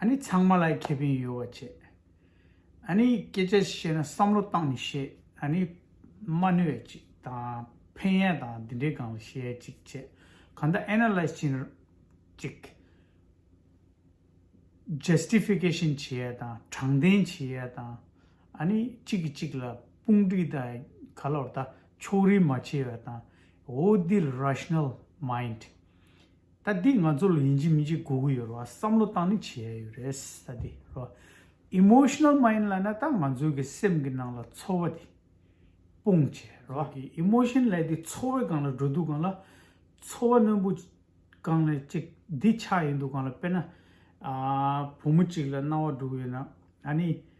ཨ་ནི་ཚང་མ་ལ་ཁེ་ཕན་ཡོད་བ་བྱེད། ཨ་ནི་སྐད་ཆ་བཤད་ན་བསམ་བློ་བཏང་ནས་བཤད་ཨ་ནི། མ་ནུས་བ་ཅིག་དང་ཕན་ཡས་དང་འདི་འདྲའི་སྒང་ལ་བཤད་ཡས་ཅིག་བྱེད། གང་ལྟར Analyze བྱེད་ན་ཅིག། Justification བྱེད་ཡས་དང་དྲང་བདེན་བྱེད་ཡས་དང། ཨ་ནི་གཅིག་གིས་གཅིག་ལ་དཔུང་སྒྲིག་དང་ག་ལོར་ད་ཕྱོགས་རིས་མ་བྱེད་ཡས་དང་འོ་འདི་ལ Rational Mind། ད་འདིས་ང་ཚོ་ལ་ཡིན་གཅིག་མིན་གཅིག་གོ་གི་ཡོད་རེད་བ་བསམ་བློ་བཏང་ནི་བྱས་ཡོད་རེད་ད་འདི་རོ། Emotional Mind ལ་ན་ད་ང་ཚོའི་གི་སེམས་གི་ནང་ལ་ཚོར་བ་འདི་སྤུངས་བྱས་རོ། གི Emotion ལས་འདི་ཚོར་བའི་སྒང་ལ་འགྲོ་འདུག་སྒང་ལ། ཚོར་བ་རྣོན་པོ་སྒང་ལ་ཅིག་འདི་ཆགས་ཡིན་འདུག་སྒང་ལ་དཔེར་ན། བུ་མོ་ཅིག་ལ་རྣ་བ་འདྲུག་ཡོད་ན་ཨ་ནི།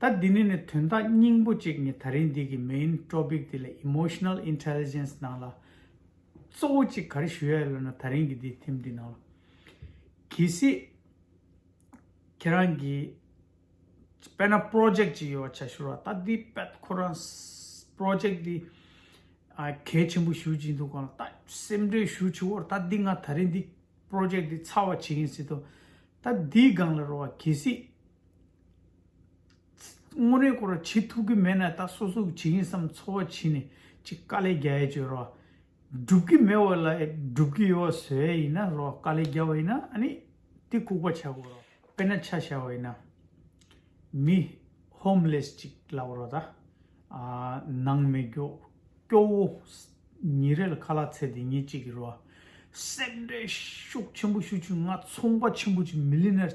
ད་འདི་ནས་ནི་དོན་དག་སྙིང་པོ་གཅིག་ནི་ད་རིང་འདི་གི main topic དེ་ལ emotional intelligence ནང་ལ་གཙོ་བོ་གཅིག་ག་རེ་ཞུ་ཡ་ཡོད་ལབ་ན་ད་རིང་གི་འདི་ཐེམ་འདི་ནང་ལ་གལ་སྲིད་ཁྱེད་རང་གི་དཔེར་ན project གཅིག་ཡོད་བྱ་ཞུ་རོགས་ད་འདི་དཔེ་ཁོ་རང project འདི་གལ་ཆེན་པོ་ཞུ་གཅིག་འདུག་གོ་ད་སེམས་ཁྲལ་ཞུ་ཆུག་བོར་ད་འདི་ང་ད་རིང་འདི project འདི་ཚར་བ་བྱེད་ཀྱིན་སྲིད་དོ་ད་འདིའི་སྒང་ལ་རོགས་གལ་སྲིད་དངོས་རེད་སྐོར་བྱེད་ཐུབ་ཀྱི་མེད་ན་ད་སོ་སོ་བྱེད་ཀྱིན་སམ་འཚོ་བ་བྱེད་ནས་ཅིག་དཀའ་ལས་རྒྱ་ཡས་བྱོས་རོགས། སྒྲུབ་ཀྱི་མེད་བ་ལ་སྒྲུབ་ཀྱི་ཡོད་བ་བཟོས་ཡས་ཡིན་ན་རོགས་དཀའ་ལས་རྒྱ་བ་ཡིན་ན་ཨ་ནི་དེ་ལྐུག་པ་བྱ་དགོས་རོགས་དཔེར་ན་ཆ་བྱ་བ་ཡིན་ན། མི། Homeless། ཅིག་ལབ་རོགས་ད། ནང་མི་སྐྱོ་བོ། ཉིན་རེ་ལ་ཁ་ལག་ཚད་དེ་ཉིད་ཅིག་གི་རོགས། སེམས་ཁྲལ་ཤུགས་ཆེན་པོ་ཞུ་ཆུ་ང་ཚོང་པ་ཆེན་པོ་ཅིག Millionaire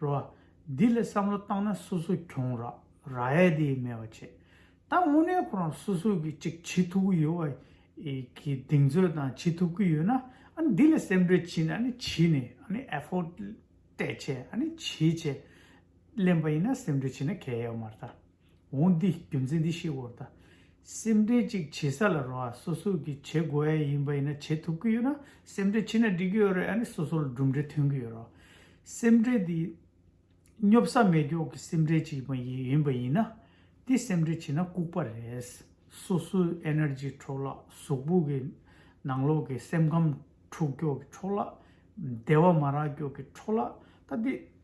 རོ། འདི་ལ་བསམ་བློ་བཏང་ན་སོ་སོ་གྱོང་རག་རྭའེ་དེ་མེད་བ་བྱེད། ད་དངོས་གནས་ཁོ་རང་སོ་སོ་གི་ཅིག་བྱེད་ཐུབ་ཀི་ཡོད་བ། གི་གདེང་ཚོད་དང་བྱེད་ཐུབ་ཀི་ཡོད་ན་ཨཱ་འདི་ལ་སེམས་ཁྲལ་བྱེད་ན་ནི་བྱེད་ནི་ཨཱ effort སྤྲད་བྱས་ཨཱ་བྱེད་བྱས། གླེན་པ་ཡིན་ན་སེམས་ཁྲལ་བྱེད་ན་གལ་ཡོད་མ་རེད། འོང་འདི་རྒྱུ་མཚན་འདི་ཤེས་དགོས་དང། སེམས་ཁྲལ་ཅིག་བྱེད་ས་ལ་རོ་ཨ་སོ་སོས་ཀྱིས་བྱེད་དགོས་ཨེ་ཡིན་པ་ཡིན་ན་བྱེད་ཐུབ་ཀྱི་ཡོད་ན་སེམས་ཁྲལ་ཕྱིན་ན་འགྲིག་གི་ཡོད་རེད་ཨ་ནི་སོ་སོ་ལ་གྲུབ་འབྲས་ཐོན་གྱི་ཡོད་རོ། སེམས་ཁྲལ་འདི་སྙོབ་ས་མེད་མགྱོགས་ཀྱི་སེམས་ཁྲལ་ཅིག་མ་ཡིན་པ་ཡིན་ན། འདི་སེམས་ཁྲལ་བྱེད་ན་ལྐུགས་པ་རེད། སོ་སོའི Energy འཕྲོག་བརླག་གཟུགས་པོ་གི་ནང་ལོགས་ཀྱི་སེམས་ཁམས་འཁྲུགས་འགྱོགས་ཀྱི་འཕྲོག་བརླག། བདེ་བ་མ་རག་འགྱོགས་ཀྱི་འཕྲོག་བརླག་ད་འདི།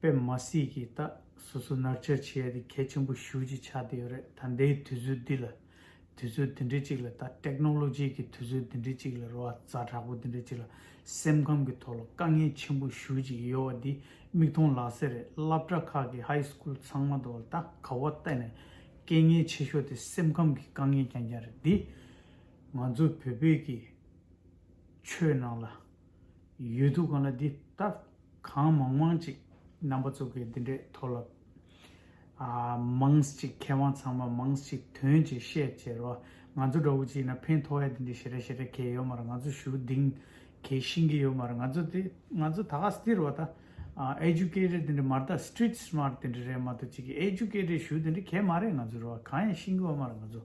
པདྨ་སྲས་ཀྱི་རྟགས་སོ་སོ་ནར་འཆར་བྱེད་ཡ་དེ་གལ་ཆེན་པོ་ཞུ་ཅི་ཆགས་དེ་ཡོད་རེད་ད་འདའི་དུས་ཚོད་འདི་ལ་དུས་ཚོད་དེ་འདྲའི་ཅིག་ལ་ད Technology གི་དུས་ཚོད་དེ་འདྲའི་ཅིག་ལ་རོ་བ་ཛ་དྲག་པོ་དེ་འདྲའི་ཅིག་ལ་སེམས་ཁམས་ཀྱི་ཐོག་ལ་དཀའ་ངལ་ཆེན་པོ་ཞུ་ཅིག་ཡོད་བ་འདི་མིག་མཐོང་ལག་ཟེར་རེད་སླབ་གྲྭ་ཁག་གི High School ཚང་མ་དུ་ད་ག་བ་གཏན་ནས་དཀའི་ངལ་ཆེ་ཤོས་དེ་སེམས་ཁམས་ཀྱི་དཀའ་ངལ་ཀྱང་ཀྱང་རེད་འདི་ང་ཚོ་བོད་པོད་ཀྱི་ཆོས་ནང་ལ། ཡོད་འདུག་གང་ལ་འདི་ལྟར་གང་མང་མང་ཅིག་རྣམ་པ་ཙུག་གི་འདི་འདྲས་མཐོ་ལབ། ཨ། མང་ཅིག་མཁས་དབང་ཚང་མ་མང་ཅིག་དོན་ཅིག་བཤད་ཅེས་རོ། ང་ཚོ་འདྲ་བོ་ཅིག་ཡིན་ན་ཕན་ཐོག་ཡ་འདི་འདྲས་ཞེ་དྲག་ཞེ་དྲག་གས་ཡོད་མ་རེད་ང་ཚོ་ཞུ་གདིང་གས་ཤིང་གི་ཡོད་མ་རེད་ང་ཚོ་དེ་ང་ཚོ་ད་ག་སྟིར་བ་ད Educated འདི་འདྲས་མ་རེད་ད Street Smart འདི་འདྲས་རེད་མ་ཏོག་ཅིག་གས Educated ཞུ་འདི་འདྲས་གས་མ་རེད་ང་ཚོ་རེད་བ་གང་ཡང་ཤིང་གི་བ་མ་རེད་ང་ཚོ།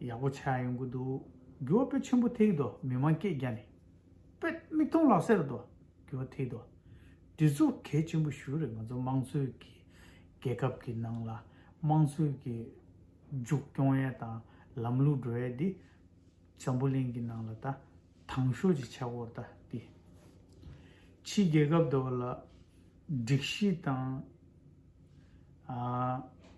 ཡག་པོ་ཆགས་ཡོང་གི་འདུག་རྒྱུ་བ་པོད་ཆེན་པོ་ཐིག་དོ་མི་མང་སྐད་རྒྱ་ནི། པོད་མིག་མཐོང་ལག་སེར་དོ་རྒྱུ་བ་ཐིག་དོ། འདི་ཚོ་གལ་ཆེན་པོ་ཞུ་རེད་ང་ཚོ་དམངས་གཙོའི་གི་རྒྱལ་ཁབ་ཀྱི་ནང་ལ་དམངས་གཙོའི་གི་མཇུག་སྐྱོང་ཡས་དང་ལམ་ལུགས་འགྲོ་ཡས་འདི་འཇམ་པོ་གླིང་གི་ནང་ལ་ད་དང་ཤོས་ཀྱི་ཆགས་བོར་ད་འདི་ཕྱི་རྒྱལ་ཁབ་དོ་བ་ལ་སྒྲིག་གཞི་དང།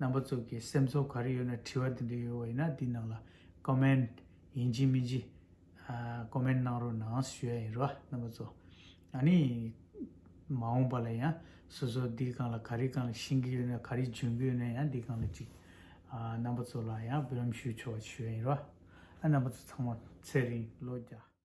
རྣམ་པ་ཙུག་གི་སེམས་ཚོར་ག་རེ་ཡོད་ན་དྲི་བ་དེ་འདྲ་ཡོད་བ་ཡིན་ན་དེའི་ནང་ལ Comment ཡིན་གྱི་མིན་གྱི Comment གནང་རོགས་གནངས་ཞུ་ཡ་ཡིན་རོ་རྣམ་པ་ཙོ་ཨ་ནི་མ་འོངས་པ་ལ་ཡང་སོ་སོ་འདིའི་སྒང་ལ་ག་རེ་གང་ཤེས་ཀྱི་ཡོད་ན་ག་རེ་འཇོན་གྱི་ཡོད་ན་ཡང་འདིའི་སྒང་ལ་ཅིག་རྣམ་པ་ཙོ་ལ་ཡང་བུ་ལམ་ཞུ་ཆོག་པ་ཞུ་ཡ་ཡིན་རོ་ཨ་རྣམ་པ་ཙོ་ཚང་མ་ཚེ་རིང་ལོ་བརྒྱ།